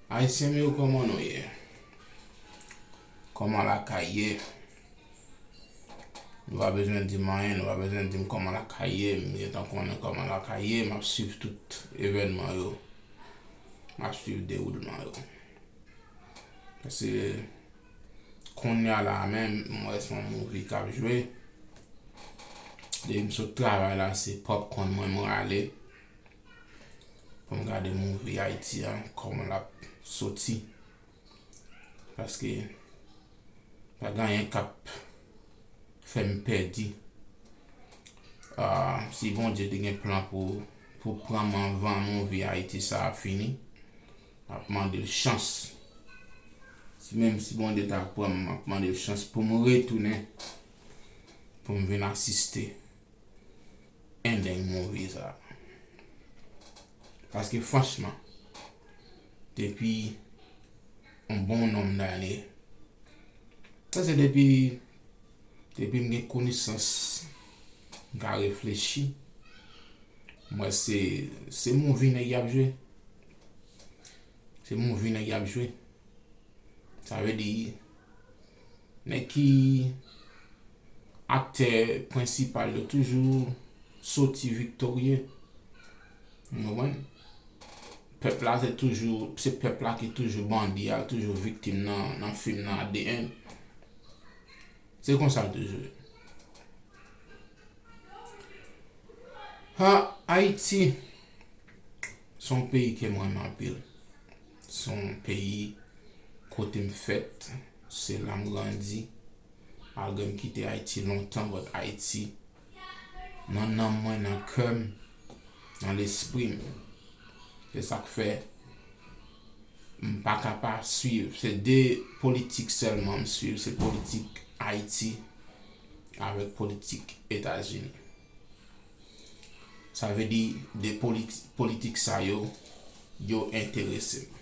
Ayisyen m yo kòman nou ye? Kòman lakay ye? Nou pa bezwen di m anyen, nou pa bezwen di m kòman lakay ye, m gentan konnen kòman lakay ye, m ap swiv tout evènman yo, m ap swiv dewoulman yo. Pase kounya la a menm, m wè s on movie k ap jwe, depi m sot travay la se popcorn mwen m rale. Pou m gade mouvi Ayiti a kòman l ap soti. Paske pa gen anyen k ap fè m pè di. Si Bondye te gen plan pou pran m anvan mouvi Ayiti sa a fini, m ap mande l chans. Menm si Bondye ta pran m, m ap mande l chans pou m retounen pou m vin asiste. endeng move sa. Paske franchman, depi yon bon nonm dane, sa se depi, depi m gen konesans, m ka reflechi, m wè se, se move nèg y ap jwe. Se move nèg y ap jwe. Sa vle di, nèg ki. Aktè prensipal yo toujou soti viktorye. N konprann? Pèp la se toujou, se pèp la ki toujou bandi a, toujou viktim nan fim nan at di end. Se konsa l toujou ye. Ha, Ayiti, s on peyi ke m renmen anpil. S on peyi kote m fèt, se la m grandi. Malgre m kite Ayiti lontan but Ayiti nan nanm mwen, nan kè m, nan lespri m. Se sa k fè m pa ka pa swiv. Se 2 politik sèlman m swiv, se politik Ayiti avèk politik Etazini. Sa vle di 2 politik sa yo, yo enterese m.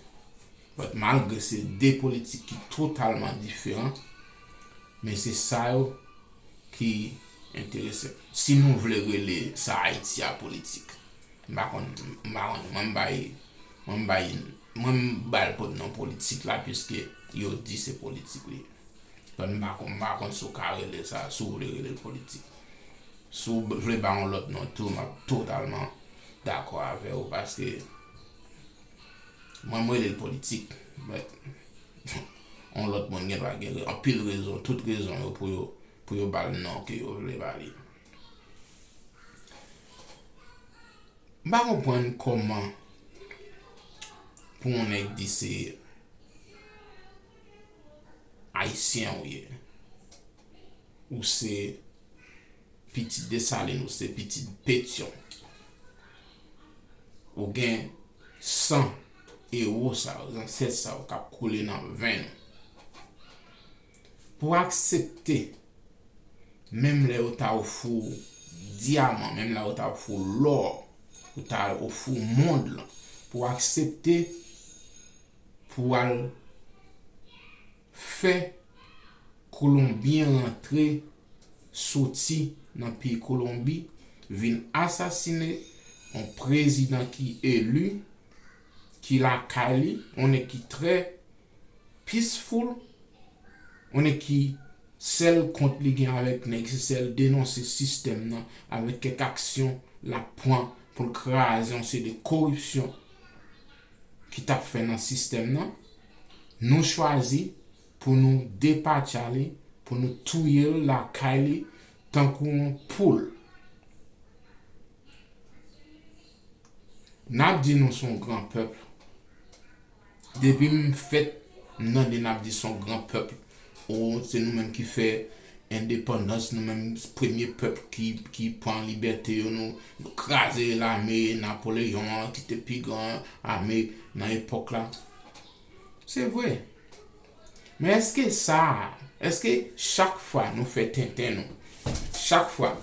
But malgre se 2 politik ki totalman diferan, men se sa yo ki enterese m. Si nou vle rele sa Ayiti a politik. M pa konn, m pa konn. Mwen m bay, mwen m bay, mwen m ba l pot non politik la pwiske yo di se politik li ye. But m pa konn, m pa konn si w ka rele sa, si w vle rele l politik. Si w vle ba yon lòt non tou m ap totalman dakò avè w paske mwen m rele l politik but yon lòt moun gen dwa gen anpil rezon, tout rezon yo pou yo ba l non ke yo vle ba li. M pa konprann kòman pou yon nèg di se Ayisyen ou ye. Ou se pitit Desalin, ou se pitit Petyon. Ou gen san ewo sa yo, zansèt sa yo k ap koule nan venn ou. Pou aksepte, menm lè yo ta ofri w dyaman, menm lè yo ta ofri w lò, yo ta ofri w mond lan, pou aksepte pou w al. fè Kolonbyen rantre soti nan peyi Kolonbi vin asasine yon prezidan ki eli, ki lakay li, yon nèg ki trè peaceful, yon nèg ki sèl kont li gen avèk nèg se sèl denonse sistèm nan avèk kèk aksyon lap pran pou l kraze yon seri de koripsyon. ki t ap fè nan sistèm nan, nou chwazi pou nou depatcha li, pou nou touye l lakay li tankou yon poul. N ap di nou s on gran pèp. Depi m fèt m tande n ap di s on gran pèp. Oh se nou menm ki fè endepandans nou menm premye pèp ki pran libète yo nou kraze lame Napoléon an ki te pi gran ame nan epòk la se vre men eske sa eske chak fwa nou fè tenten nou chak fwa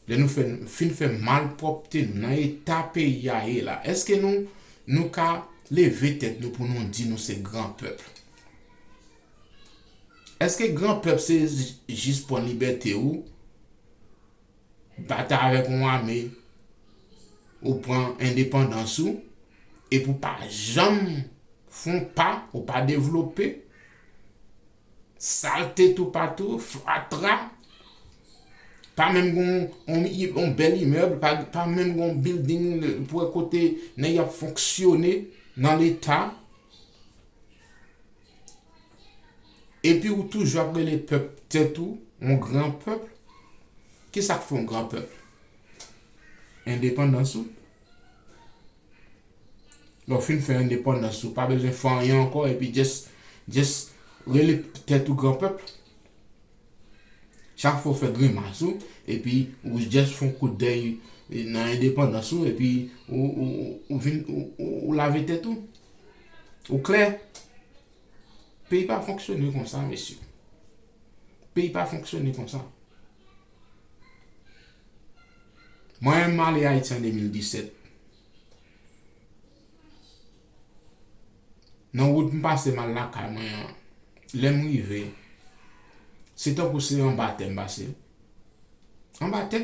lè nou fin fè malpwòpte nou nan eta peyi a ye la eske nou nou ka leve tèt nou pou nou di nou se gran pèp. Eske gran pèp se jis pwan libète ou batay avèk yon ame ou pwan endepandans ou epi ou pa janm fon pa ou pa devlope salte tou patou fatra pa menm gon yon bèl imèb pa menm gon bilding pou wè kote nèg yo ap fonksyone nan leta. Epi ou toujou ap rele pèp tèt ou yon gran pèp, ki sa k fè w gran pèp? Endepandans ou. Lè w fin fè endepandans ou pa bezwen fè anyen ankò epi just rele tèt ou gran pèp. Chak fwa w fè grimas ou epi ou just fon kout dèy nan endepandans ou epi ou vin ou lave tèt ou. Ou klè. Peyi pa fonksyone konsa mesye. Peyi pa fonksyone konsa. Mwen menm m ale Ayiti an 2017. Nan wout m pase m al lakay mwen an, lè m rive, se tankou se anba tè m pase. Anba tè!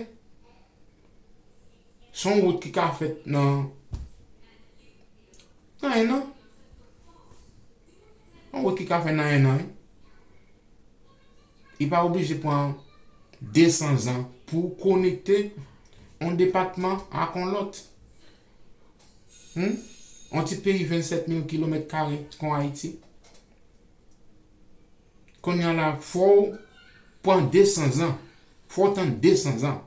Se yon wout ki ka fèt nan ennan. Yon wout ki ka fèt nan ennan wi. Li pa oblije pran 200 zan pou w konekte yon depatman ak yon lòt. Humm on ti peyi 27 mil kilomèt kare kon Ayiti konnya la fòw pran 200 zan fòw tann 200 zan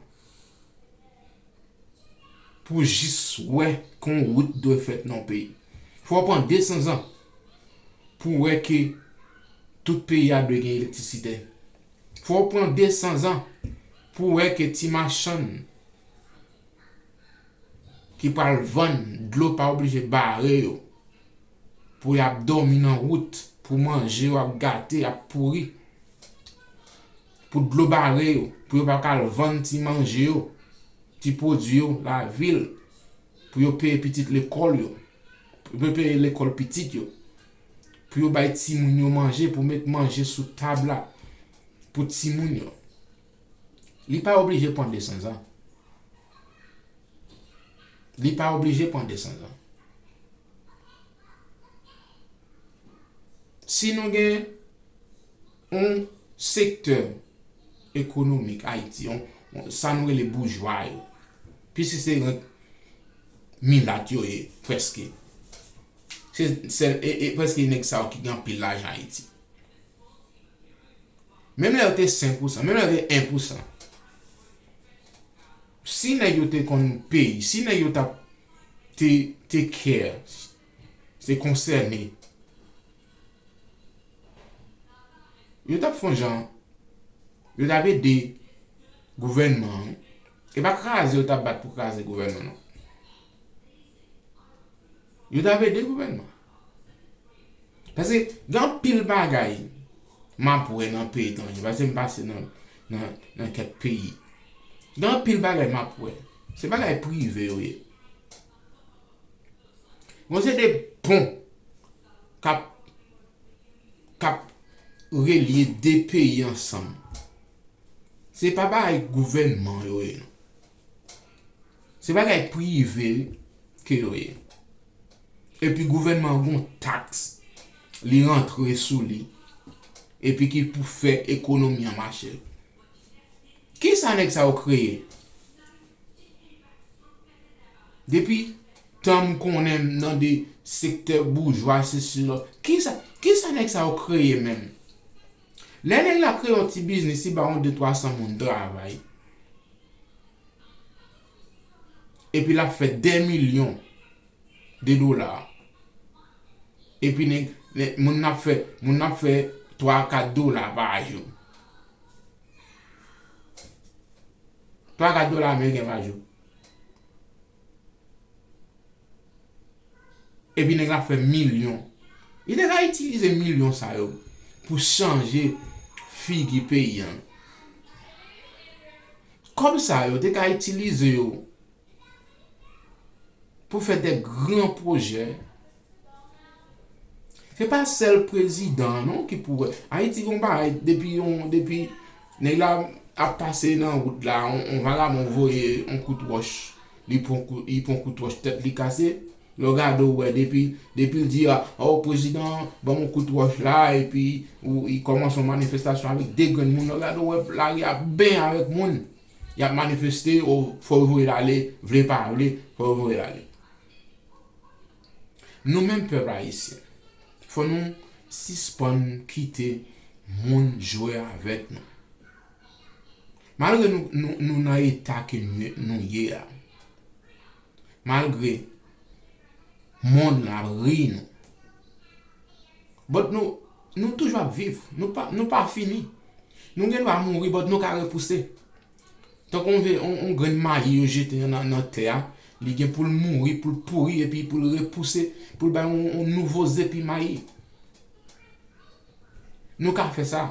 pou jis wè ke on wout dwe fèt nan on peyi fòw pran 200 zan pou wè ke tout peyi a dwe gen elektrisite fòw pran 200 zan pou wè ke ti machann ki pral vann dlo pa oblije bare yo pou yap dòmi nan wout pou manje yo ap gate ap pouri pou dlo bare yo pou yo paka al vann ti manje yo ti pwodwi yo lavil pou yo peye pitit lekòl yo pou yo peye lekòl pitit yo pou yo bay timoun yo manje pou met manje sou tab la pou timoun yo. Li pa oblije pran 200 zan. Li pa oblije pran 200 zan. Si nou gen yon sektè ekonomik Ayiti, sa nou rele boujwa yo, piske se rent milat yo ye, preske. Se preske nèg sa yo ki gen anpil lajan Ayiti. Menm lè yo te 5 pou san, menm lè yo te 1 pou san. Si nèg yo te konn peyi, si nèg yo tap te te kè, se konsène. Yo tap fon jan, yo tap ede gouvènman. E pa kraze yo tap bat pou kraze gouvènman non. Yo tap ede gouvènman. Paske gen anpil bagay m ap wè nan peyi etranje, paske m pase nan kèk peyi. Gen anpil bagay m ap wè, se bagay prive yo ye. Gon se de pon k ap, k ap relye de peyi ansanm. Se pa bagay gouvènman yo ye non. Se bagay prive ke yo ye. Epi gouvènman an gon taks li rantre sou li. Epi ki pou fè ekonomi an mache. Kisa nèg sa yo kreye? Depi tan m konnen m nan de sektè boujwa sesi la. Kisa nèg sa yo kreye menm? Lè nèg la kreye yon ti biznis li ba yon de twa san moun travay epi lap fè dè milyon de dola epi nèg moun nan ap fè moun nan ap fè twa a kat dola pa jou twa a kat dola ameriken pa jou Epi nèg la fè milyon. Li te ka itilize milyon sa yo pou chanje figi peyi an. Kòb sa yo te ka itilize yo pou fè de gran pwojè Se pa sèl prezidan an non ki pou wè. Ayiti gen yon bagay depi yon depi nèg la ap pase nan wout la yon vagabon voye yon kout wòch li pran kout li pran kout wòch tèt li kase lè w gade w wè depi depi l di a o prezidan ban m yon kout wòch la epi ou li kòmanse yon manifestasyon avèk 2 grenn moun lè w gade w wè lari a ben avèk moun y ap manifeste o fò yo voye l ale vle pa vle fò yo voye l ale. Nou menm pèp ayisyen fò nou sispann kite moun jwe avèk nou. Malgre nou nan eta ke nou ye a, malgre mond lan ap ri nou, but nou toujou ap viv, nou pa fini. Nou gen dwa mouri but nou ka repouse. Tankou yon ve, yon grenn mayi yo jete nan tè a, li gen pou l mouri, pou l pouri, epi pou l repouse, pou l bay yon nouvo zepi mayi. Nou ka fè sa.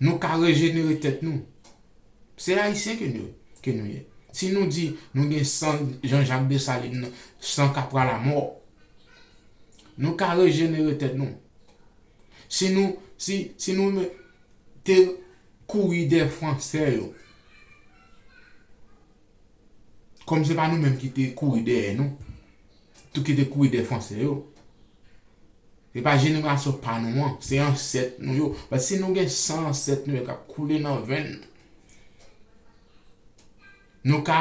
Nou ka rejenere tèt nou. Se Ayisyen ke nou ye. Si nou di nou gen san Jean Jacques Dessalines nan, san kap pran lamò, nou ka rejenere tèt nou. Si nou si si nou men te kouri dè fransè yo kòm se pa nou menm ki te kouri dèyè nou tou ki te kouri dè fransè yo se pa jenerasyon pa nou an se ansèt nou yo paske si nou gen san ansèt nou yo kap koule nan venn nou. Nou ka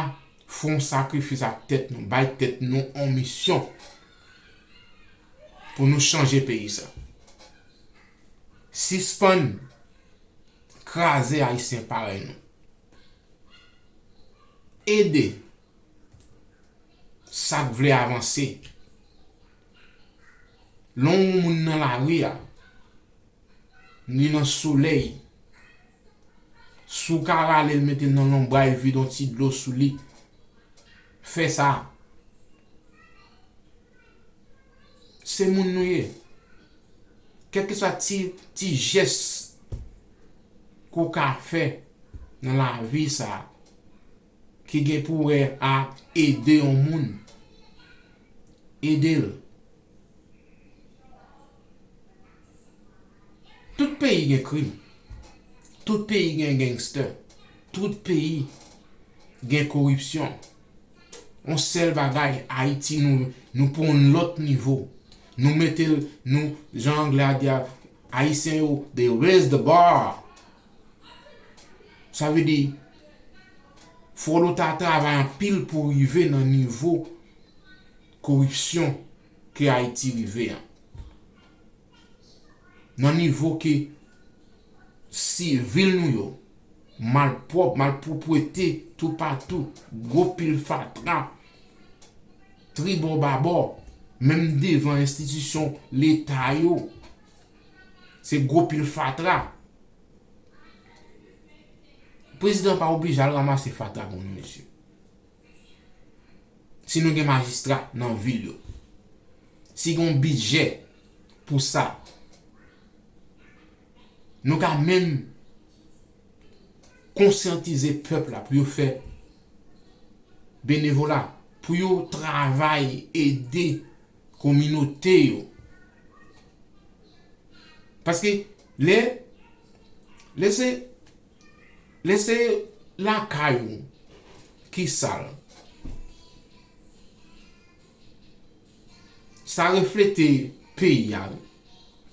f'on sakrifis ak tèt nou, bay tèt nou on misyon pou nou chanje peyi sa. Sispann kraze Ayisyen parèy nou. Ede sak vle avanse. Lè on moun nan lari a, li nan solèy, Si w ka rale l mete l nan lonbray vide yon ti dlo sou li fè sa. Se moun nou ye. Kèlkeswa ti ti jès ke w ka fè nan lavi sa. ki gen pou wè ak ede yon moun, ede l. Tout peyi gen krim, tout peyi gen gangstè, tout peyi gen koripsyon. Yon sèl bagay Ayiti nou nou pran yon lòt nivo. Nou mete l nou jan anglè a di a Ayisyen yo they raise the bar. Sa vle di, fò nou ta travay anpil pou rive nan nivo koripsyon ke Ayiti rive an. Nan nivo ke si vil nou yo malpwòp, malpwoprete toupatou, gwo pil fatra, tribòbabò, menm devan enstitisyon leta yo. Se gwo pil fatra. Prezidan an pa oblije al ramase fatra pou nou mesye. Si nou gen majistra nan vil yo. Si gen yon bidjè pou sa. Nou ka menm konsyantize pèp la pou yo fè benevola. Pou yo travay ede kominote yo paske lè lè se lè se lakay ou ki sal sa reflete peyi a wi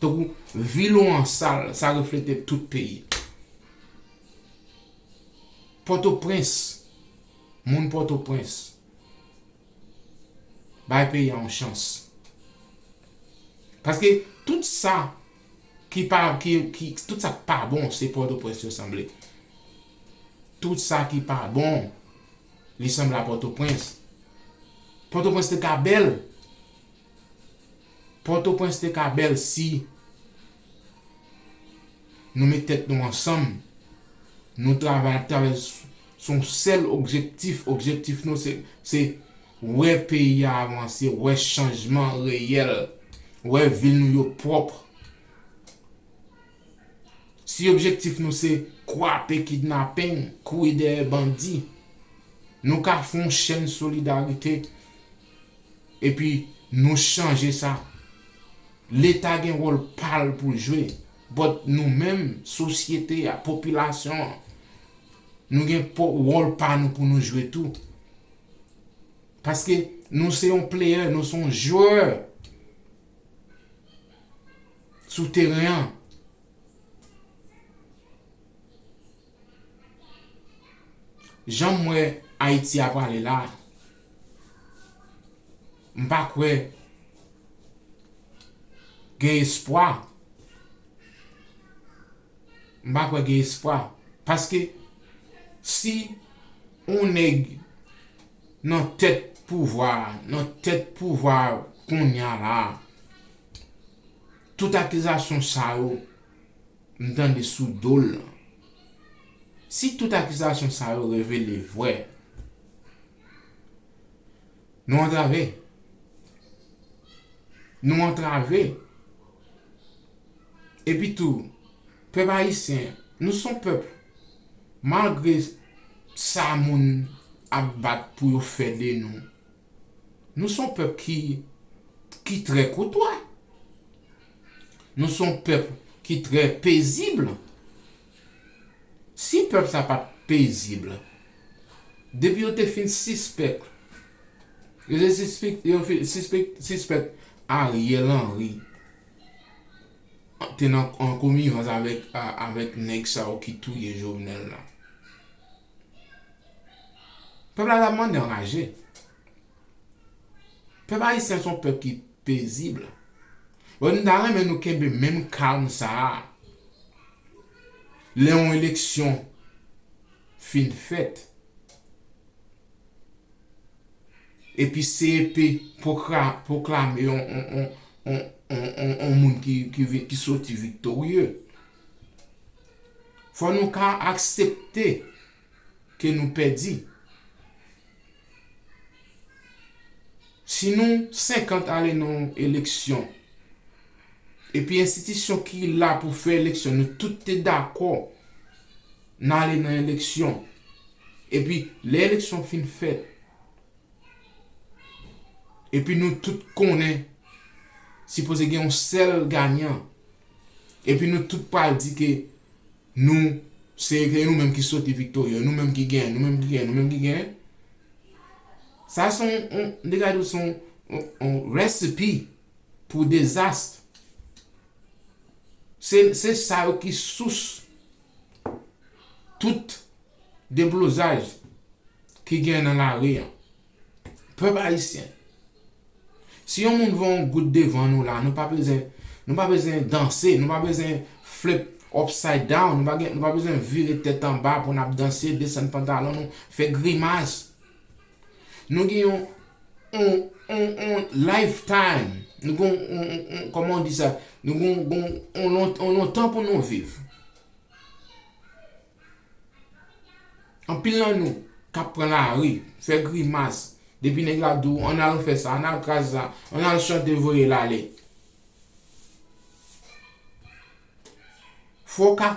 tankou vil ou an sal sa reflete tout peyi pòtoprens moun pòtoprens Bay peyi a yon chans. Paske tout sa ki pa ki ki tout sa k pa bon se pòtoprens yo sanble. Tout sa ki pa bon li sanble a pòtoprens. Pòtoprens te ka bèl. Pòtoprens te ka bèl si Nou met tèt nou ansanm, nou travay ap travay sou yon sèl objektif, objektif nou se wè peyi a avanse, wè chanjman reyèl, wè vil nou yo pwòp. Si objektif nou se kwape kidnaping, kouri dèyè bandi, nou ka fon chèn solidarite. epi nou chanje sa leta gen wòl pal poul jwe but nou menm sosyete a popilasyon an nou gen wòl pa nou pou nou jwe tou paske nou se yon player nou son jwè sou teren an. Janm wè Ayiti a prale la, m pa kwè gen espwa, m pa kwè gen espwa paske si yon nèg nan tèt pouvwa a, nan tèt pouvwa kounya la, tout akizasyon sa yo. M tande sou do l lan. Si tout akizasyon sa yo revele vre, nou antrave. Nou antrave. Epi tou, pèp ayisyen, nou s on pèp, malgre sa moun ap bat pou yo fè de nou, Nou son pèp ki ki trè koutwa. Nou son pèp ki trè pezib. Si pèp sa pat pezib, depi yo te fin sispèk yo te sispik yo fin sispèk sispèk Ariel Henry te nan an konivans avèk avèk nèg sa yo ki touye Jovenel la. Pèp la ta mande anraje. Pèp ayisyen son pèp ki pezib. Bon m ta renmen nou kenbe menm kalm sa a. Lè yon eleksyon fin fèt. Epi CEP pwoklame yon moun ki soti viktorye. Fò nou ka aksepte ke nou pèdi. Si nou 50 ale nan yon eleksyon, epi enstitisyon ki la pou fè eleksyon nou tout te dakò nan ale nan eleksyon, epi lè eleksyon fin fèt, epi nou tout konnen sipoze gen yon sèl ganyan, Epi nou tout pral di ke nou se ke nou menm ki soti viktorye, nou menm ki genyen, nou menm ki genyen, nou menm ki genyen. Sa se yon, de gade ou se yon recipe pou dezast. Se sa yo ki sous tout deblozaj ki genyen nan lari an. Pèp ayisyen si yon moun voye yon goud devan nou la nou pa bezwen nou pa bezwen danse nou pa bezwen flip upside down nou pa gen nou pa bezwen vire tèt anba pou nap danse desann pantalon nou fè grimas nou gen yon on on on life time nou gen yon on on on kòman ou di sa nou gen yon on on lontan pou nou viv. Anpil nan nou kap pran lari, fè grimas, depi nèg la di w ann al fè sa, ann al kraze sa, ann al chante voye l ale. Fò w ka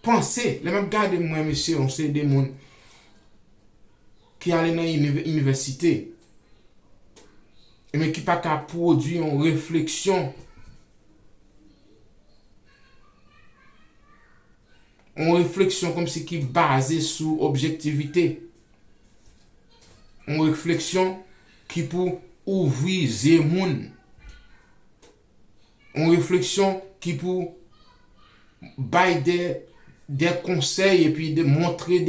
panse, lè m ap gade mwen mesye yon seri de moun ki ale nan inivèsite, men ki pa ka pwodui yon refleksyon. yon refleksyon kòmsi ki baze sou objektivite, yon refleksyon ki pou ouvri zye moun, yon refleksyon ki pou bay de konsèy epi de montre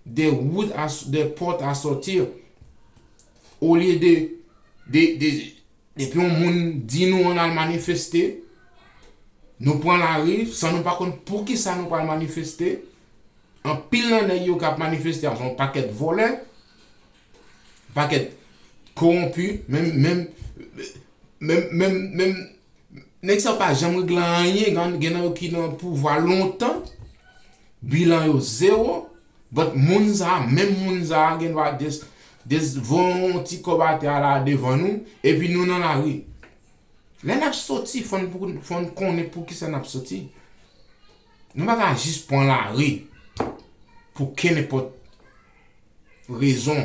de wout, de pòt a sòti olye de Depi yon moun di nou ann al manifeste, nou pran lari san nou pa konn poukisa nou pral manifeste. Anpil nan nèg yo k ap manifeste a se yon pakèt vòlè, yon pakèt kowonpi. Menm nèg sa yo pa janm regle anyen. Gen nan yo ki nan pouvwa lontan, bilan yo zewo. But moun sa, menm moun sa gen dwa just just voye yon ti kòb atè a la devan nou epi nou nan lari. Lè nap soti fò n fò n konnen poukisa nap soti. Nou pa ka just pran lari pou kenenpòt rezon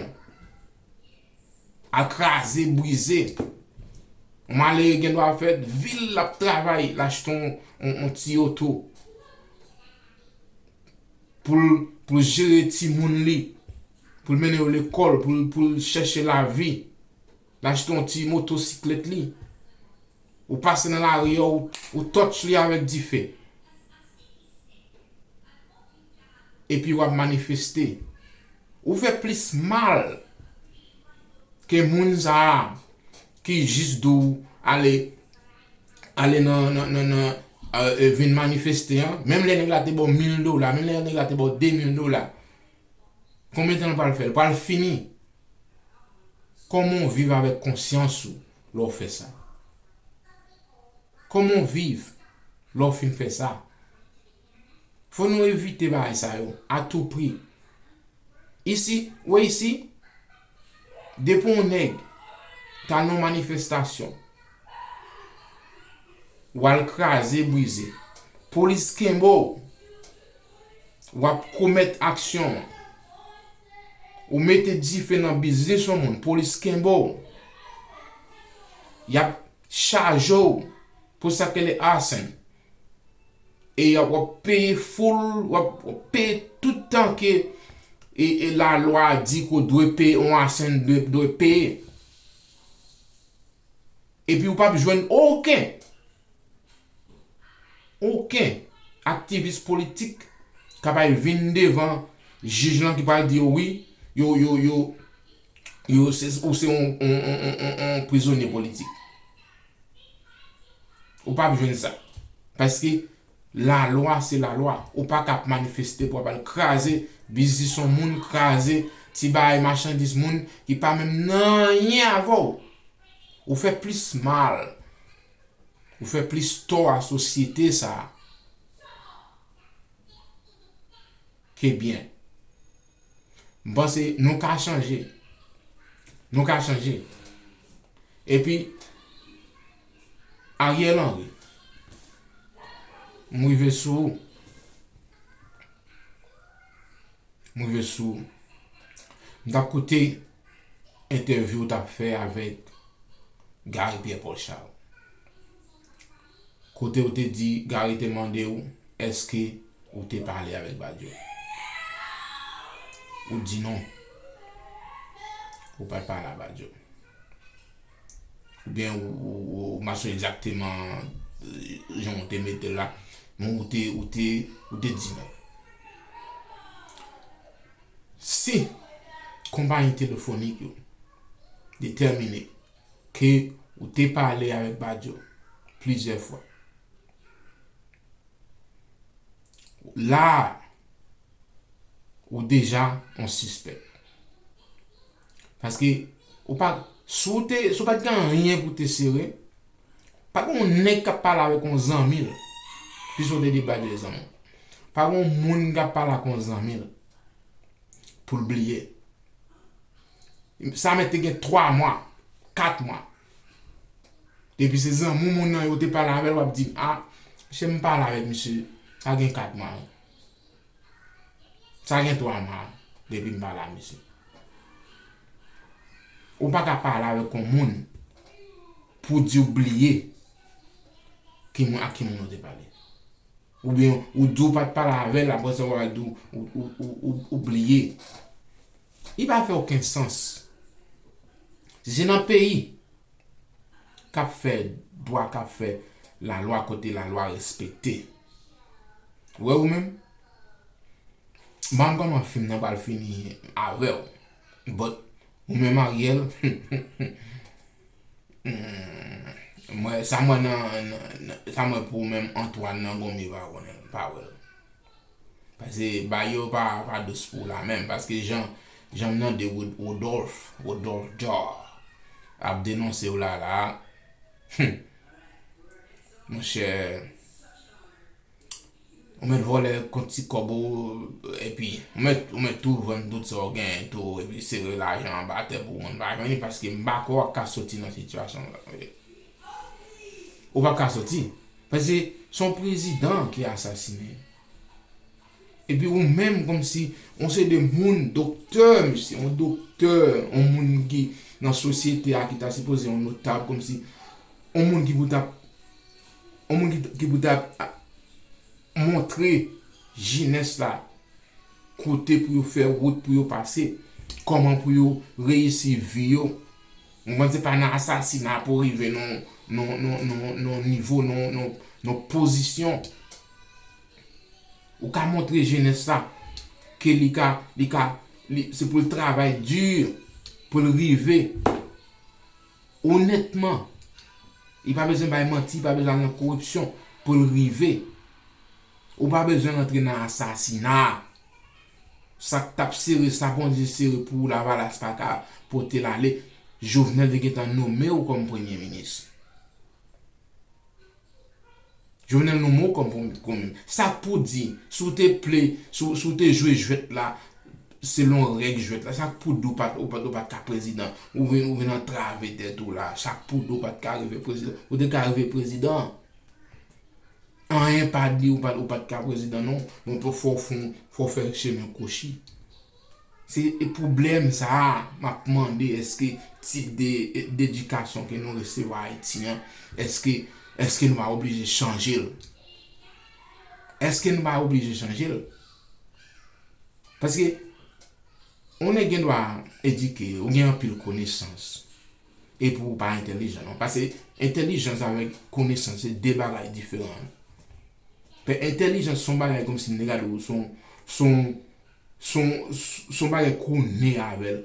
al kraze brize. Yon malere gen dwa fè vil lap travay l achte yon ti oto. pou l jere timoun li, pou l mennen yo lekòl, pou l chèche lavi, l achte yon ti motosiklèt li, ou pase nan lari a ou touch li avèk dife. Epi w ap manifeste. Ou fè plis mal ke moun sa a. ki jis di w ale ale nan nan nan nan euh vin manifeste an menm lè nèg la te ba w 1000 dola menm lè nèg la te ba w 2000 dola konbyen tan l pral fè l pral fini kòman w viv avèk konsyans ou lè w fè sa kòman w viv lè w fin fè sa Fò nou evite bagay sa yo a tou pri. Isi, wè isi, depi yon nèg ta nan yon manifestasyon, w al kraze brize, polis kenbe w, w ap komèt aksyon an, ou mete dife nan biznis yon moun, polis kenbe w, y ap chaje w pou sa k rele arson, e yap wap peye full wap peye tout tan ke e la lwa di ke w dwe peye yon asen dwe peye epi ou pap jwenn oken oken aktivis politik kap al vin devan jij lan ki pral di yo wi yo yo yo yo ou se yon yon yon yon prizonye politik. Ou pap jwenn sa. Paske lalwa se lalwa. Ou pa ka ap manifeste pou ap al kraze biznis yon moun, kraze ti bagay machandiz moun ki pa menm nan anyen avè w. Ou fè plis mal. Ou fè plis tò a sosyete sa a ke byen. M panse nou ka chanje. Nou ka chanje. Epi, Ariel Henry, m rive sou ou. M rive sou ou. M tap koute entèvyou ou tap fè avèk Gary Pierre Paul Charles. Kote ou te di Gary te mande ou eske ou te pale avèk Badio? Ou di non. Ou pat pale a Badio. Oubyen ou ma sou egzakteman jan ou te mete la. Men ou te ou te ou te di non. Si konpayi telefonik yo detèmine. Ke ou te pale avèk Badio plizyè fwa. La a, ou deja yon sispèk. Paske, ou pa, si w te, si w pa t gen anyen pou w te sere, pa gen yon nèg k ap pale avèk yon zanmi l, piske w te di Badio e zanmi w. Pa gen yon moun k ap pale ak yon zanmi l, pou l bliye. Sa mèt te gen 3 mwa, 4 mwa. Depi se zanmi w moun nan yo te pale avè l, w ap di m, a, se m pale avèk misye, sa gen 4 mwa. Sa gen 3 mwa depi m pale avèk misye. Ou pa ka pale avèk yon moun pou di w bliye ak ki moun ou te pale. Oubyen ou di w pa t pale avè l aprè sa w al di ou bliye. Li pa fè oken sans. Si se nan peyi k ap fè dwa, k ap fè lalwa, kote lalwa respekte. Ou wè ou menm? M pa konn kòman fim nan pral fini avè w. But ou menm Ariel humm sa m wè nan sa m wè pou ou menm Antoine nan gonbe pa konnen l pa wè l pase bagay yo pa dous pou w la menm paske jan m tande Rodolphe Rodolphe Jhar ap denonse w la la humm monchè. Ou mèt vòlè kont ti kòb ou epi ou mèt ou mèt tou vann tout sa ou genyen tou epi sere lajan anba atè pou moun pa jwenn li paske m pa kwè w ap ka soti nan sitiyasyon sa manje. Ou p ap ka soti paske se yon prezidan ki asasine epi ou menm kòmsi yon seri de moun doktè mesye yon doktè yon moun ki nan sosyete a ki ta sipoze yon notab kòmsi yon moun ki pou ta yon moun ki pou ta montre jenès la kote pou yo fè wout pou yo pase, kòman pou yo reyisi vi yo, ou konprann se pa nan asasina pou rive nan nivo, nan pozisyon, ou ka montre jenès la ke li ka, li ka, se pou l travay di pou l rive. Onètman, li pa bezwen bay manti, li pa bezwen al nan koripsyon pou l rive. Ou pa bezwen rantre nan asasina. Sa k t ap sere, sa Bondye sere pou Lavalas pa ka pote l ale, Jovenel te gentan nome w kòm Premye Minis. Jovenel nou mou kòm pou met goumen. Sa pou di, si w te ple, si w te jwe jwèt la selon règ jwèt la, sa pou di w pat ou pat ka prezidan. Ou vin antrave tèt ou la. Sa pou di w pat ka rive prezidan. Ou te ka rive prezidan. Anyen pa di ou pat ka prezidan non. Mwen pou fò fon, fò fè chemen kwochi. Se pwoblèm sa a m ap mande èske tip de dedikasyon ke nou resevwa Ayiti an, èske èske nou pa oblije chanje l? Èske nou pa oblije chanje l? Paske yon nèg gen dwa edike, ou gen anpil konesans, epi ou pa entèlijan non. Pase entèlijans avèk konesans se de bagay diferan. Entèlijans se yon bagay kòmsi m te gade w se yon se yon Son son bagay konnen avèl.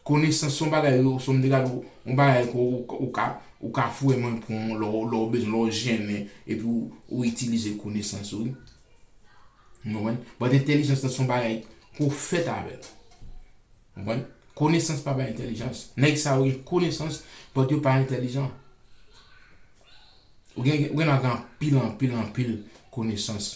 Konesans son bagay ou son mde gad on bagay ke ou ka ou ka vrèman pran lè w bezwen lè w jennen epi ou itilize konesans ou wi. Ou konprann? But entèlijans lan son bagay ke w fèt avèl. Ou konprann? Konesans pa bay entèlijans. Nèg sa yo gen konesans but yo pa entèlijan. Ou gen ou gen dwa gen anpil anpil anpil konesans.